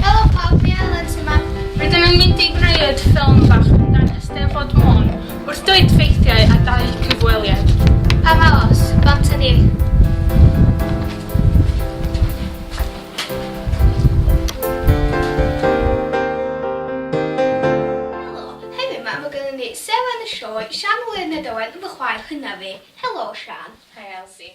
Helo pawb, fi Elen sy 'ma. Rydym yn mynd i greu ffilm bach amdan Eisteddfod Môn, wrth dweud ffeithiau a dau cyfweliad. Pa mor os? Bant ydi hi. Helo, heddiw 'ma mae gynnon ni Seran y Sioe, Sian Wlyfned Owen yn fy chwaer hynaf i. Helo Sian. Hi Elsie.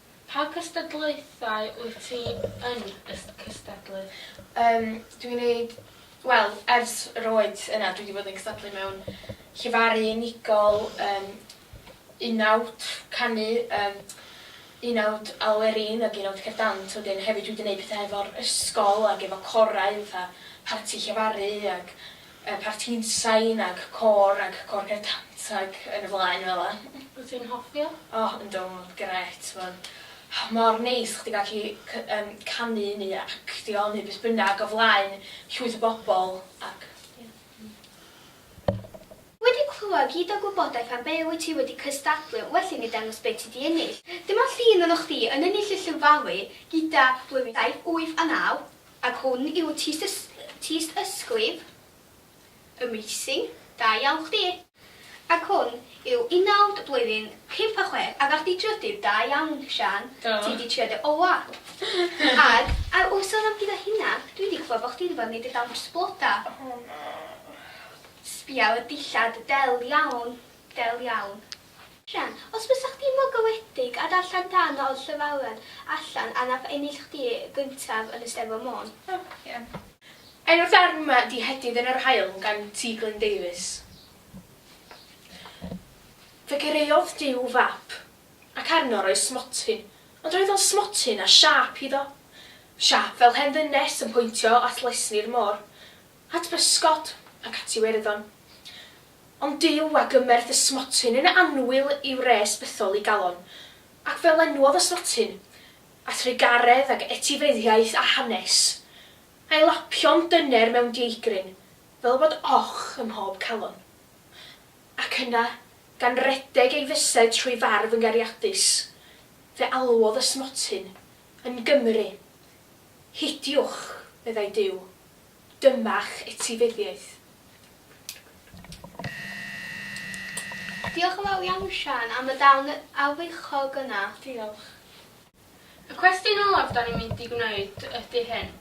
Pa cystadlaethau wyt ti yn cystadlu? Yym, dwi'n neud, wel, ers yr oed yna dwi 'di bod yn cystadlu mewn llefaru unigol, yym, unawd canu, yym, unawd Alwerin ag unawd Cerdd Dant, wedyn hefyd dwi 'di neud pethe hefo'r ysgol ag efo corau fatha parti llefaru ag y parti'n sain ag côr ag cornel cant ag yn y flaen fela. Wyt ti'n hoffi o? O yndw ma fe'n grêt ma'n mor neis chdi gallu cy- yym canu neu actio neu beth bynnag o flaen llwyth o bobl ac ie. Wedi clywed gyd o gwybodaeth am be wyt ti wedi cystadlu well i ni dangos be ti di ennill. Dyma llun ohonoch chdi yn ennill y Llyn Fali gyda blwyddyn saith, wyth a naw. Ac hwn yw tyst ysglyf y meising, da iawn chdi! Ac hwn yw unawd blwyddyn pump a chwech a ga'th di drydydd, da iawn Siân, ti di trio dy ola! Ag ar ôl sôn am gyda hynna, dwi di clywed bo chdi di bod yn neud dy dawns bloda! Sbia ar y dillad, del iawn, del iawn! Rhian, Os bysa chdi'n fogawedig a darllen darn o'r llawariad allan a nath ennill chdi y gyntaf yn y Steddfod Môn. Rhian, Enw'r darn 'ma 'di 'Hedydd yn yr Haul' gan T. Glyn Davies. Fe gareodd Duw fap, ac arno roedd smotyn, ond roedd o'n smotyn â siâp iddo. Siâp fel hen ddynes yn pwyntio at lesni'r môr. At bysgod ac at Iwerddon. Ond Duw a gymerth ysmotyn yn annwyl i wres bythol i galon, ac fe lenwodd ysmotyn, a thrugaredd ac etifeddiaeth a hanes, a'i lapio'n dyner mewn dieigrin, fel bod och ym mhob calon. Ac yna, gan redeg ei fysedd trwy farf yn gariadus, fe alwodd ysmotyn, Yn Gymru! Hidiwch! meddai Duw. Dyma'ch etifeddiaeth. Diolch yn fawr iawn Siân am y darn arwyddochog yna. Diolch. Y cwestiwn olaf dan ni'n mynd i gwneud ydy hyn,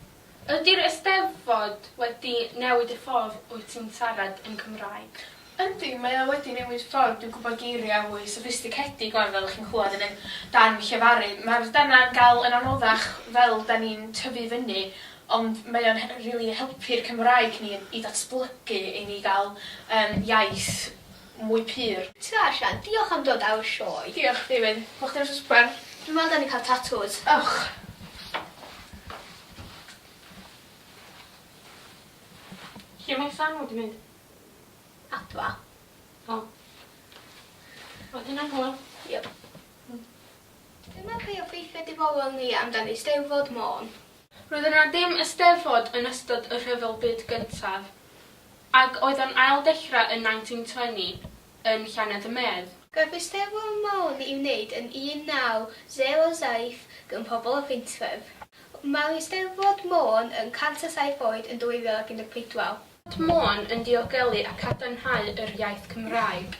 ydy'r Eisteddfod wedi newid y ffordd wyt ti'n siarad yn Cymraeg? Yndi, mae o wedi newid ffordd dwi'n gwybod geiriau mwy soffistigedig 'wan fel chi'n clywed yn ein darn llefaru. Mae'r darnau'n gael yn anoddach fel 'da ni'n tyfu fyny ond mae o'n rili helpu'r Cymraeg ni i ddatblygu i ni gael yym iaith mwy pur. Tu allan. Diolch am dod aur sioe. Diolch chdi Wyn. Bo chdi'n wsos bren. Dwi'n meddwl da ni cael tatŵs. Ewch. Lle mae Sam wedi mynd? Adfa. O. Oedd hynna'n hwyl? Yep. Hmm. Dyma be obeithia dibolon ni amdan Eisteddfod Môn. Roedd yna ddim Eisteddfod yn ystod y Rhyfel Byd Gyntaf, ac oedd o'n ail dechrau yn 1920 yn Llanedd y Medd. Gaf Eisteddfod Môn i'w wneud yn 1907 gan pobl o Faentwref. Mae'r Eisteddfod Môn yn 107 oed yn 2014. Port Môn yn diogelu a cadarnhau yr iaith Cymraeg.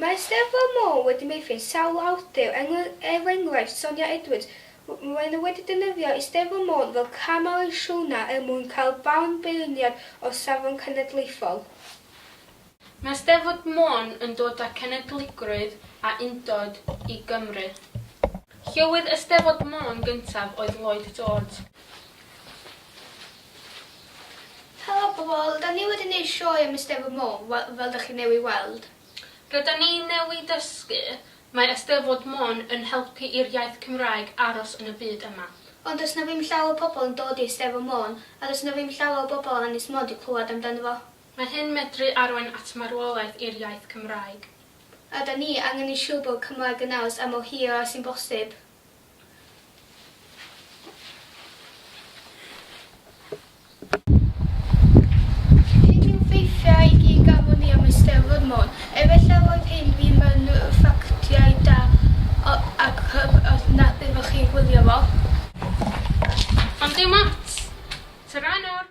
Mae Eisteddfod Môn wedi meithrin sawl awdur, er enghraifft Sonia Edwards, maen nhw wedi defnyddio Eisteddfod Môn fel cam ar y siwrna er mwyn cael barn beirniad o'r safon cenedlaethol. Mae Eisteddfod Môn yn dod â cenedligrwydd a undod i Gymru. Llywydd Eisteddfod Môn gyntaf oedd Lloyd George. Helo pobl, da ni wedi neud sioe am Eisteddfod Môn, wel, fel da chi newy weld. Rydan ni newy dysgu, mae Eisteddfod Môn yn helpu i'r iaith Cymraeg aros yn y byd yma. Ond does na ddim llawer o pobl yn dod i Eisteddfod Môn, a does na ddim llawer o bobl o Ynys Môn di clywad amdano fo. Mae hyn medru arwain at marwolaeth i'r iaith Cymraeg. A da ni angen yn siwr bod Cymraeg yn naws am mor hir a sy'n bosib. Hyn yw ffeithiau i gyd gafon ni am Eisteddfod Môn. Efallai roedd hyn ddim yn ffactiau da ac hyb os nad ydych chi'n gwylio fo. Ond dim ots! Tara nawr!